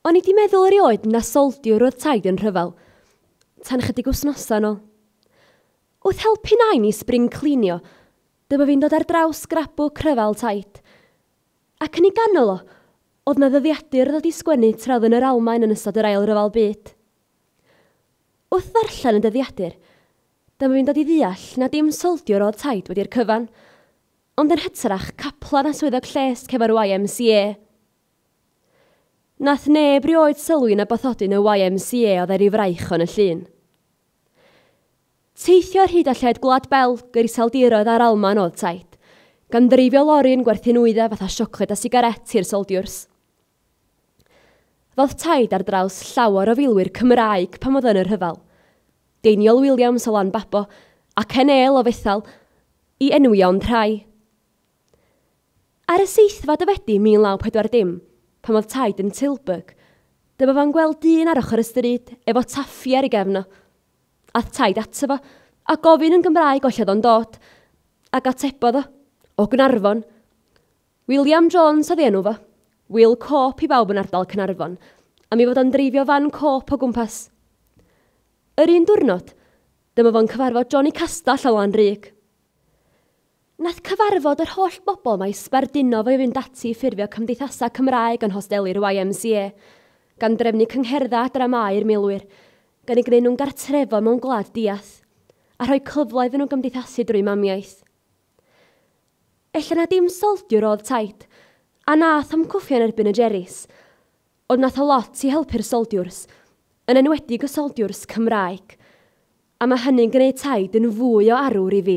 O'n i 'di meddwl erioed na soldiwr oedd Taid yn rhyfel, tan chydig wsnosau nôl. Wrth helpu nain i spring clinio, dyma fi'n dod ar draws scrapbook rhyfel Taid. Ac yn ei ganol o, oedd na ddyddiadur ddod i sgwennu tra oedd yn yr Almaen yn ystod yr Ail Ryfel Byd. Wrth ddarllen y dyddiadur, Dyma fi'n dod i ddeall na dim soldiwr oedd taid wedi'r cyfan, ond yn hytrach caplan a swyddog lles cefn yr YMCA. Nath neb rioed sylwi na bathodyn y YMCA oedd e ryw fraich yn y llun. Teithio ar hyd a lled Gwlad Belg yr Iseldiroedd a'r Almaen oedd taid, gan ddreifio lori yn gwerthu nwyddau fatha siocled a sigaret i'r soldiwrs. Roedd taid ar draws llawer o filwyr Cymraeg pan oedd yn y rhyfel. Deiniol Williams o Lanbabo ac Enel o Fethel i enwi ond rhai. Ar y seithfed o Fedi 1940, pan oedd taid yn Tilburg, dyma fo'n gweld dyn ar ochr y stryd efo taffi ar ei gefn o. Ath taid ato fo a gofyn yn Gymraeg o lle oedd o'n dod, ac atebodd o, o Gnarfon. William Jones oedd ei enw fo. Wil Cope i bawb yn ardal Caernarfon, am ei fod o'n dreifio fan Cope o gwmpas. Yr un diwrnod, dyma fo'n cyfarfod Johnny Castell o Lanrug. Nath cyfarfod yr holl bobl mae sbardino fo i fynd ati i ffurfio cymdeithasau Cymraeg yn hosteli'r YMCA, gan drefnu cyngherddau a dramâu i'r milwyr, gan ei greu nhw'n gartrefol mewn gwlad diath, a rhoi cyfle iddyn nhw gymdeithasu drwy mamiaith. Ella na dim soldiwr oedd Tait, a nath am cwffio yn erbyn y Jerrys, ond nath o lot i helpu'r soldiwrs, yn enwedig y soldiwrs Cymraeg, a mae hynny'n gwneud Tait yn fwy o arwr i fi.